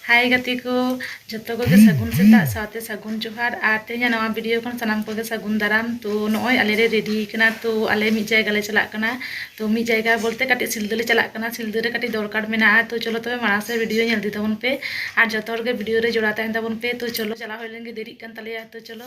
ᱦᱟᱭ ᱜᱟᱛᱮ ᱠᱚ ᱡᱚᱛᱚ ᱠᱚᱜᱮ ᱥᱟᱹᱜᱩᱱ ᱥᱮᱛᱟᱜ ᱥᱟᱶᱛᱮ ᱥᱟᱹᱜᱩᱱ ᱡᱚᱦᱟᱨ ᱟᱨ ᱛᱮᱦᱮᱧᱟᱜ ᱱᱚᱣᱟ ᱵᱷᱤᱰᱤᱭᱳ ᱠᱷᱚᱱ ᱥᱟᱱᱟᱢ ᱠᱚᱜᱮ ᱥᱟᱹᱜᱩᱱ ᱫᱟᱨᱟᱢ ᱛᱚ ᱱᱚᱜᱼᱚᱭ ᱟᱞᱮ ᱞᱮ ᱨᱮᱰᱤ ᱠᱟᱱᱟ ᱛᱚ ᱟᱞᱮ ᱢᱤᱫ ᱡᱟᱭᱜᱟ ᱞᱮ ᱪᱟᱞᱟᱜ ᱠᱟᱱᱟ ᱛᱚ ᱢᱤᱫ ᱡᱟᱭᱜᱟ ᱵᱚᱞᱛᱮ ᱠᱟᱹᱴᱤᱡ ᱥᱤᱞᱫᱟᱹ ᱞᱮ ᱪᱟᱞᱟᱜ ᱠᱟᱱᱟ ᱥᱤᱞᱫᱟᱹ ᱨᱮ ᱠᱟᱹᱴᱤᱡ ᱫᱚᱨᱠᱟᱨ ᱢᱮᱱᱟᱜᱼᱟ ᱛᱚ ᱪᱚᱞᱚ ᱛᱚᱵᱮ ᱢᱟᱲᱟᱝ ᱥᱮᱫ ᱵᱷᱤᱰᱤᱭᱳ ᱧᱮᱞ ᱤᱫᱤ ᱛᱟᱵᱚᱱ ᱯᱮ ᱟᱨ ᱡᱚᱛᱚ ᱦᱚᱲ ᱜᱮ ᱵᱷᱤᱰᱤᱭᱳ ᱨᱮ ᱡᱚᱲᱟᱣ ᱛᱟᱦᱮᱱ ᱛᱟᱵᱚᱱ ᱯᱮ ᱛᱚ ᱪᱚᱞᱚ ᱪᱟᱞᱟᱣ ᱦᱩᱭ ᱞᱮᱱ ᱜᱮ ᱫᱮᱨᱤᱜ ᱠᱟᱱ ᱛᱟᱞᱮᱭᱟ ᱛᱚ ᱪᱚᱞᱚ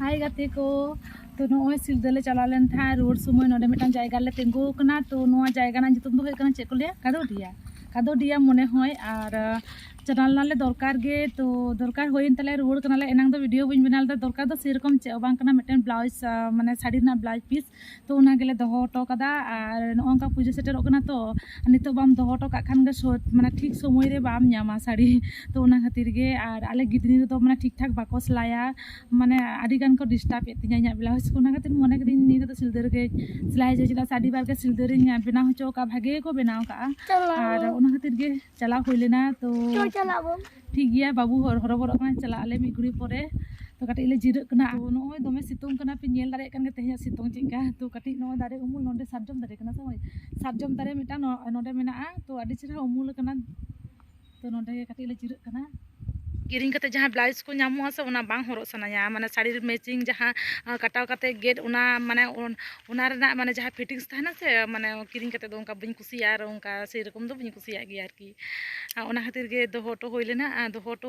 ᱦᱟᱭ ᱜᱟᱛᱮ ᱠᱚ ᱛᱚ ᱱᱚᱜᱼᱚᱭ ᱥᱤᱞᱫᱟᱹ ᱞᱮ ᱪᱟᱞᱟᱣ ᱞᱮᱱ ᱛᱟᱦᱮᱸᱫ ᱨᱩᱣᱟᱹᱲ ᱥᱚᱢᱚᱭ ᱱᱚᱰᱮ ᱢᱤᱫᱴᱟᱝ ᱡᱟᱭᱜᱟ ᱨᱮᱞᱮ ᱛᱤᱸᱜᱩ ᱟᱠᱟᱱᱟ ᱛᱚ ᱱᱚᱣᱟ ᱡᱟᱭᱜᱟ ᱨᱮᱱᱟᱜ ᱧᱩᱛᱩᱢ ᱫᱚ ᱦᱩᱭᱩᱜ ᱠᱟᱱᱟ ᱪᱮᱫ ᱠᱚ ᱞᱟᱹᱭᱟ ᱠᱟᱫᱳᱰᱤᱭᱟ ᱠᱟᱫᱳᱰᱤᱭᱟ ᱢᱚᱱᱮ ᱦᱚᱭ ᱟᱨ ᱪᱟᱞᱟᱣ ᱞᱮᱱᱟᱞᱮ ᱫᱚᱨᱠᱟᱨ ᱜᱮ ᱛᱚ ᱫᱚᱨᱠᱟᱨ ᱦᱩᱭᱮᱱ ᱛᱟᱞᱮ ᱨᱩᱣᱟᱹᱲ ᱠᱟᱱᱟᱞᱮ ᱮᱱᱟᱝ ᱫᱚ ᱵᱷᱤᱰᱤᱭᱳ ᱵᱟᱹᱧ ᱵᱮᱱᱟᱣ ᱞᱮᱫᱟ ᱫᱚᱨᱠᱟᱨ ᱫᱚ ᱥᱮᱨᱚᱠᱚᱢ ᱪᱮᱫ ᱦᱚᱸ ᱵᱟᱝ ᱠᱟᱱᱟ ᱢᱤᱫᱴᱮᱱ ᱵᱞᱟᱣᱩᱡᱽ ᱢᱟᱱᱮ ᱥᱟᱹᱲᱤ ᱨᱮᱱᱟᱜ ᱵᱞᱟᱣᱩᱡᱽ ᱯᱤᱥ ᱛᱚ ᱚᱱᱟ ᱜᱮᱞᱮ ᱫᱚᱦᱚ ᱦᱚᱴᱚ ᱠᱟᱫᱟ ᱟᱨ ᱱᱚᱜᱼᱚ ᱱᱚᱝᱠᱟ ᱯᱩᱡᱟᱹ ᱥᱮᱴᱮᱨᱚᱜ ᱠᱟᱱᱟ ᱛᱚ ᱱᱤᱛᱚᱜ ᱵᱟᱢ ᱫᱚᱦᱚ ᱦᱚᱴᱚ ᱠᱟᱜ ᱠᱷᱟᱱ ᱜᱮ ᱥᱚᱴ ᱢᱟᱱᱮ ᱴᱷᱤᱠ ᱥᱚᱢᱚᱭ ᱨᱮ ᱵᱟᱢ ᱧᱟᱢᱟ ᱥᱟᱹᱲᱤ ᱛᱚ ᱚᱱᱟ ᱠᱷᱟᱹᱛᱤᱨ ᱜᱮ ᱟᱨ ᱟᱞᱮ ᱜᱤᱫᱽᱨᱟᱹ ᱨᱮᱫᱚ ᱢᱟᱱᱮ ᱴᱷᱤᱠ ᱴᱷᱟᱠ ᱵᱟᱠᱚ ᱥᱮᱞᱟᱭᱟ ᱢᱟᱱᱮ ᱟᱹᱰᱤ ᱜᱟᱱ ᱠᱚ ᱰᱤᱥᱴᱟᱵᱽ ᱮᱫ ᱛᱤᱧᱟᱹ ᱤᱧᱟᱹᱜ ᱵᱞᱟᱣᱩᱡᱽ ᱠᱚ ᱚᱱᱟ ᱠᱷᱟᱹᱛᱤᱨ ᱢᱚᱱᱮ ᱠᱤᱫᱟᱹᱧ ᱱᱤᱭᱟᱹ ᱫᱷᱟᱣ ᱫᱚ ᱥᱤᱞᱫᱟᱹ ᱨᱮᱜᱮ ᱥᱮᱞᱟᱭ ᱦᱚᱪᱚᱭᱟ ᱪᱮᱫᱟᱜ ᱥᱮ ᱟᱹᱰᱤ ᱵᱟᱨ ᱜᱮ ᱥᱤᱞᱫᱟᱹ ᱨᱤᱧ ᱵᱮᱱᱟᱣ ᱦᱚᱪᱚ ᱠᱟᱜᱼᱟ ᱵᱷᱟᱜᱮ ᱜᱮᱠᱚ ᱵᱮᱱᱟᱣ ᱠᱟᱜᱼᱟ ᱟᱨ ᱚᱱᱟ ᱠᱷᱟᱹᱛᱤᱨ ᱜᱮ ᱪᱟᱞᱟᱣ ᱦᱩᱭ ᱞᱮᱱᱟ ᱛᱚ ᱴᱷᱤᱠ ᱜᱮᱭᱟ ᱵᱟᱹᱵᱩ ᱦᱚᱨᱚᱵᱚᱨᱚᱜ ᱠᱟᱱᱟ ᱪᱟᱞᱟᱜ ᱟᱞᱮ ᱢᱤᱫ ᱜᱷᱩᱲᱤ ᱯᱚᱨᱮ ᱛᱚ ᱠᱟᱹᱴᱤᱡ ᱞᱮ ᱡᱤᱨᱟᱹᱜ ᱠᱟᱱᱟ ᱱᱚᱜᱼᱚᱭ ᱫᱚᱢᱮ ᱥᱤᱛᱩᱝ ᱠᱟᱱᱟ ᱯᱮ ᱧᱮᱞ ᱫᱟᱲᱮᱭᱟᱜ ᱠᱟᱱ ᱜᱮ ᱛᱮᱦᱮᱧᱟᱜ ᱥᱤᱛᱩᱝ ᱪᱮᱫᱠᱟ ᱛᱚ ᱠᱟᱹᱴᱤᱡ ᱱᱚᱣᱟ ᱫᱟᱨᱮ ᱩᱢᱩᱞ ᱱᱚᱰᱮ ᱥᱟᱨᱡᱚᱢ ᱫᱟᱨᱮ ᱠᱟᱱᱟ ᱥᱮ ᱥᱟᱨᱡᱚᱢ ᱫᱟᱨᱮ ᱢᱤᱫᱴᱟᱝ ᱱᱚᱰᱮ ᱢᱮᱱᱟᱜᱼᱟ ᱛᱚ ᱟᱹᱰᱤ ᱪᱮᱦᱨᱟ ᱩᱢᱩᱞ ᱠᱟᱱᱟ ᱛᱚ ᱱᱚᱰᱮ ᱜᱮ ᱠᱟᱹᱴᱤᱡ ᱞᱮ ᱡᱤᱨᱟᱹᱜ ᱠᱟᱱᱟ ᱠᱤᱨᱤᱧ ᱠᱟᱛᱮ ᱡᱟᱦᱟᱸ ᱵᱞᱟᱣᱩᱡᱽ ᱠᱚ ᱧᱟᱢᱚᱜᱼᱟ ᱥᱮ ᱚᱱᱟ ᱵᱟᱝ ᱦᱚᱨᱚᱜ ᱥᱟᱱᱟᱧᱟ ᱢᱟᱱᱮ ᱥᱟᱹᱲᱤ ᱨᱮ ᱢᱮᱪᱤᱝ ᱡᱟᱦᱟᱸ ᱠᱟᱴᱟᱣ ᱠᱟᱛᱮ ᱜᱮᱫ ᱚᱱᱟ ᱢᱟᱱᱮ ᱚᱱᱟ ᱨᱮᱱᱟᱜ ᱢᱟᱱᱮ ᱡᱟᱦᱟᱸ ᱯᱷᱤᱴᱤᱝᱥ ᱛᱟᱦᱮᱱᱟ ᱥᱮ ᱢᱟᱱᱮ ᱠᱤᱨᱤᱧ ᱠᱟᱛᱮ ᱫᱚ ᱚᱱᱠᱟ ᱵᱟᱹᱧ ᱠᱩᱥᱤᱭᱟᱜᱼᱟ ᱟᱨ ᱚᱱᱠᱟ ᱥᱮᱭ ᱨᱚᱠᱚᱢ ᱫᱚ ᱵᱟᱹᱧ ᱠᱩᱥᱤᱭᱟᱜ ᱜᱮᱭᱟ ᱟᱨᱠᱤ ᱟᱨ ᱚᱱᱟ ᱠᱷᱟᱹᱛᱤᱨ ᱜᱮ ᱫᱚᱦᱚ ᱦᱚᱴᱚ ᱦᱩᱭ ᱞᱮᱱᱟ ᱟᱨ ᱫᱚᱦᱚ ᱦᱚᱴᱚ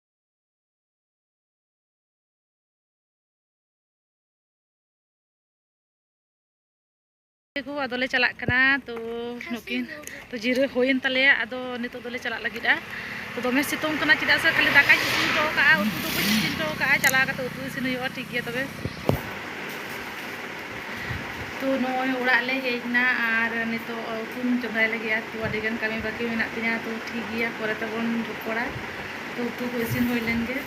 ᱠᱚ ᱟᱫᱚ ᱞᱮ ᱪᱟᱞᱟᱜ ᱠᱟᱱᱟ ᱛᱚ ᱱᱩᱠᱤᱱ ᱛᱚ ᱡᱤᱨᱟᱹ ᱦᱩᱭᱮᱱ ᱛᱟᱞᱮᱭᱟ ᱟᱫᱚ ᱱᱤᱛᱚᱜ ᱫᱚᱞᱮ ᱪᱟᱞᱟᱜ ᱞᱟᱹᱜᱤᱫᱼᱟ ᱛᱚ ᱫᱚᱢᱮ ᱥᱤᱛᱩᱝ ᱠᱟᱱᱟ ᱪᱮᱫᱟᱜ ᱥᱮ ᱠᱷᱟᱹᱞᱤ ᱫᱟᱠᱟᱧ ᱤᱥᱤᱱ ᱦᱚᱴᱚ ᱠᱟᱜᱼᱟ ᱩᱛᱩ ᱫᱚ ᱵᱟᱹᱧ ᱤᱥᱤᱱ ᱦᱚᱴᱚ ᱠᱟᱜᱼᱟ ᱪᱟᱞᱟᱣ ᱠᱟᱛᱮ ᱩᱛᱩ ᱤᱥᱤᱱ ᱦᱩᱭᱩᱜᱼᱟ ᱴᱷᱤᱠ ᱜᱮᱭᱟ ᱛᱚᱵᱮ ᱛᱚ ᱱᱚᱜᱼᱚᱭ ᱚᱲᱟᱜ ᱞᱮ ᱦᱮᱡ ᱮᱱᱟ ᱟᱨ ᱱᱤᱛᱚᱜ ᱩᱛᱩᱧ ᱪᱚᱸᱫᱟᱭ ᱞᱟᱹᱜᱤᱫᱼᱟ ᱛᱚ ᱟᱹᱰᱤᱜᱟᱱ ᱠᱟᱹᱢᱤ ᱵᱟᱹᱠᱤ ᱢᱮᱱᱟᱜ ᱛᱤᱧᱟᱹ ᱛᱚ ᱴᱷᱤᱠ ᱜᱮᱭᱟ ᱯᱚᱨᱮ ᱛᱮᱵᱚᱱ ᱨᱚᱯᱚᱲᱟ ᱛᱚ ᱩᱛᱩ ᱠᱚ ᱤᱥᱤᱱ ᱦᱩᱭ ᱞᱮᱱ ᱜᱮ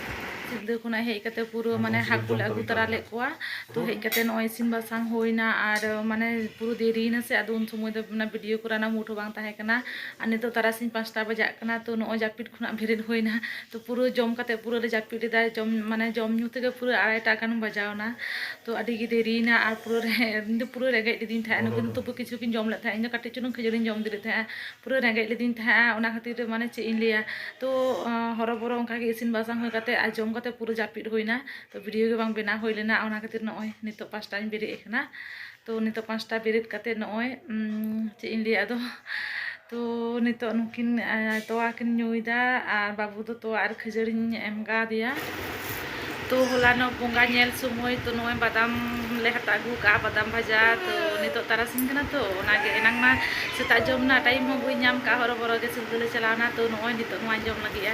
ᱥᱤᱞᱫᱟᱹ ᱠᱷᱚᱱᱟᱜ ᱦᱮᱡ ᱠᱟᱛᱮ ᱯᱩᱨᱟᱹ ᱢᱟᱱᱮ ᱦᱟᱹᱠᱩ ᱞᱮ ᱟᱹᱜᱩ ᱛᱟᱨᱟ ᱞᱮᱫ ᱠᱚᱣᱟ ᱛᱚ ᱦᱮᱡ ᱠᱟᱛᱮ ᱱᱚᱜᱼᱚᱭ ᱤᱥᱤᱱ ᱵᱟᱥᱟᱝ ᱦᱩᱭᱱᱟ ᱟᱨ ᱢᱟᱱᱮ ᱯᱩᱨᱟᱹ ᱫᱮᱨᱤᱭᱮᱱᱟ ᱥᱮ ᱟᱫᱚ ᱩᱱ ᱥᱚᱢᱚᱭ ᱫᱚ ᱚᱱᱟ ᱵᱷᱤᱰᱤᱭᱳ ᱠᱚᱨᱟᱣ ᱨᱮᱱᱟᱜ ᱢᱩᱰ ᱦᱚᱸ ᱵᱟᱝ ᱛᱟᱦᱮᱸ ᱠᱟᱱᱟ ᱟᱨ ᱱᱤᱛᱚᱜ ᱛᱟᱨᱟᱥᱤᱧ ᱯᱟᱸᱪᱴᱟ ᱵᱟᱡᱟᱜ ᱠᱟᱱᱟ ᱛᱚ ᱱᱚᱜᱼᱚᱭ ᱡᱟᱹᱯᱤᱫ ᱠᱷᱚᱱᱟᱜ ᱵᱮᱨᱮᱫ ᱦᱩᱭᱱᱟ ᱛᱚ ᱯᱩᱨᱟᱹ ᱡᱚᱢ ᱠᱟᱛᱮ ᱯᱩᱨᱟᱹ ᱞᱮ ᱡᱟᱹᱯᱤᱫ ᱞᱮᱫᱟ ᱡᱚᱢ ᱢᱟᱱᱮ ᱡᱚᱢ ᱧᱩ ᱛᱮᱜᱮ ᱯᱩᱨᱟᱹ ᱟᱲᱟᱭᱴᱟ ᱜᱟᱱ ᱵᱟᱡᱟᱣ ᱮᱱᱟ ᱛᱚ ᱟᱹᱰᱤ ᱜᱮ ᱫᱮᱨᱤᱭᱮᱱᱟ ᱟᱨ ᱯᱩᱨᱟᱹ ᱤᱧ ᱫᱚ ᱯᱩᱨᱟᱹ ᱨᱮᱸᱜᱮᱡ ᱞᱤᱫᱤᱧ ᱛᱟᱦᱮᱸᱫ ᱱᱩᱠᱤᱱ ᱫᱚ ᱛᱚᱵᱩ ᱠᱤᱪᱷᱩ ᱠᱤᱱ ᱡᱚᱢ ᱞᱮᱫ ᱛᱟᱦᱮᱸᱫ ᱤᱧ ᱫᱚ ᱠᱟᱹᱴᱤᱡ ᱪᱩᱞᱩᱝ ᱠᱷᱟᱹᱡᱟᱹᱲᱤᱧ ᱡᱚᱢ ᱤᱫᱤ ᱞᱮᱫ ᱛᱟᱦᱮᱸᱫᱼᱟ ᱯᱩᱨᱟᱹ ᱨᱮᱸᱜᱮᱡ ᱞᱤᱫᱤᱧ ᱛᱟᱦᱮᱸᱫᱼᱟ ᱚᱱᱟ ᱠᱷᱟᱹᱛᱤᱨ ᱛᱮ ᱢᱟᱱᱮ ᱪᱮᱫ ᱤᱧ ᱞᱟᱹᱭᱟ ᱛᱚ ᱦᱚᱨᱚᱵᱚᱨᱚ ᱚᱱᱠᱟ ᱜᱮ ᱤᱥᱤᱱ ᱵᱟᱥᱟᱝ ᱦᱩᱭ ᱠᱟᱛᱮ ᱟᱨ ᱡᱚᱢ ᱠᱟᱛᱮ ᱯᱩᱨᱟᱹ ᱡᱟᱹᱯᱤᱫ ᱦᱩᱭᱮᱱᱟ ᱛᱚ ᱵᱷᱤᱰᱤᱭᱳ ᱜᱮ ᱵᱟᱝ ᱵᱮᱱᱟᱣ ᱦᱩᱭ ᱞᱮᱱᱟ ᱚᱱᱟ ᱠᱷᱟᱹᱛᱤᱨ ᱱᱚᱜᱼᱚᱭ ᱱᱤᱛᱚᱜ ᱯᱟᱸᱪᱴᱟ ᱨᱤᱧ ᱵᱮᱨᱮᱫ ᱟᱠᱟᱱᱟ ᱛᱚ ᱱᱤᱛᱚᱜ ᱯᱟᱸᱪᱴᱟ ᱵᱮᱨᱮᱫ ᱠᱟᱛᱮ ᱱᱚᱜᱼᱚᱭ ᱪᱮᱫ ᱤᱧ ᱞᱟᱹᱭᱟ ᱟᱫᱚ ᱛᱚ ᱱᱤᱛᱚᱜ ᱱᱩᱠᱤᱱ ᱛᱚᱣᱟ ᱠᱤᱱ ᱧᱩᱭᱫᱟ ᱟᱨ ᱵᱟᱹᱵᱩ ᱫᱚ ᱛᱚᱣᱟ ᱟᱨ ᱠᱷᱟᱹᱡᱟᱹᱲᱤᱧ ᱮᱢ ᱠᱟᱣᱫᱮᱭᱟ ᱛᱚ ᱦᱚᱞᱟᱱᱚᱜ ᱵᱚᱸᱜᱟ ᱧᱮᱞ ᱥᱚᱢᱚᱭ ᱛᱚ ᱱᱚᱜᱼᱚᱭ ᱵᱟᱫᱟᱢ ᱞᱮ ᱦᱟᱛᱟᱣ ᱟᱹᱜᱩ ᱠᱟᱜᱼᱟ ᱵᱟᱫᱟᱢ ᱵᱷᱟᱡᱟ ᱛᱚ ᱱᱤᱛᱚᱜ ᱛᱟᱨᱟᱥᱤᱧ ᱠᱟᱱᱟ ᱛᱚ ᱚᱱᱟᱜᱮ ᱮᱱᱟᱝ ᱢᱟ ᱥᱮᱛᱟᱜ ᱡᱚᱢ ᱨᱮᱱᱟᱜ ᱴᱟᱭᱤᱢ ᱦᱚᱸ ᱵᱟᱹᱧ ᱧᱟᱢ ᱠᱟᱜᱼᱟ ᱦᱚᱨᱚ ᱵᱚᱨᱚ ᱜᱮ ᱥᱤᱞᱫᱟᱹ ᱞᱮ ᱪᱟᱞᱟᱣᱱᱟ ᱛᱚ ᱱᱚᱜᱼᱚᱭ ᱱᱤᱛᱚᱜ ᱱᱚᱣᱟᱧ ᱡᱚᱢ ᱞᱟᱹᱜᱤᱫᱼᱟ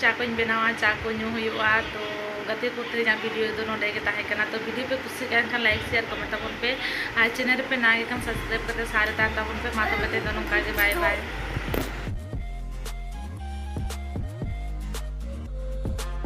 ᱪᱟ ᱠᱚᱧ ᱵᱮᱱᱟᱣᱟ ᱪᱟ ᱠᱚ ᱧᱩ ᱦᱩᱭᱩᱜᱼᱟ ᱛᱚ ᱜᱟᱛᱮ ᱠᱚ ᱛᱮ ᱤᱧᱟᱹᱜ ᱵᱷᱤᱰᱤᱭᱳ ᱫᱚ ᱱᱚᱰᱮ ᱜᱮ ᱛᱟᱦᱮᱸ ᱠᱟᱱᱟ ᱛᱚ ᱵᱷᱤᱰᱤᱭᱳ ᱯᱮ ᱠᱩᱥᱤᱜ ᱠᱟᱱ ᱠᱷᱟᱱ ᱞᱟᱭᱤᱠ ᱥᱮᱭᱟᱨ ᱠᱚᱢᱮᱱᱴ ᱛᱟᱵᱚᱱ ᱯᱮ ᱟᱨ ᱪᱮᱱᱮᱞ ᱨᱮᱯᱮ ᱱᱟᱣᱟ ᱜᱮ ᱠᱷᱟᱱ ᱥᱟᱵᱥᱠᱨᱟᱭᱤᱵᱽ ᱠᱟᱛᱮ ᱥᱟᱶ ᱨᱮ ᱛᱟᱦᱮᱱ ᱛᱟᱵᱚᱱ ᱯᱮ ᱢᱟ ᱛᱚᱵᱮ ᱛᱮᱦᱮᱧ ᱫᱚ ᱱᱚᱝᱠᱟ ᱜᱮ ᱵᱟᱭ ᱵᱟᱭ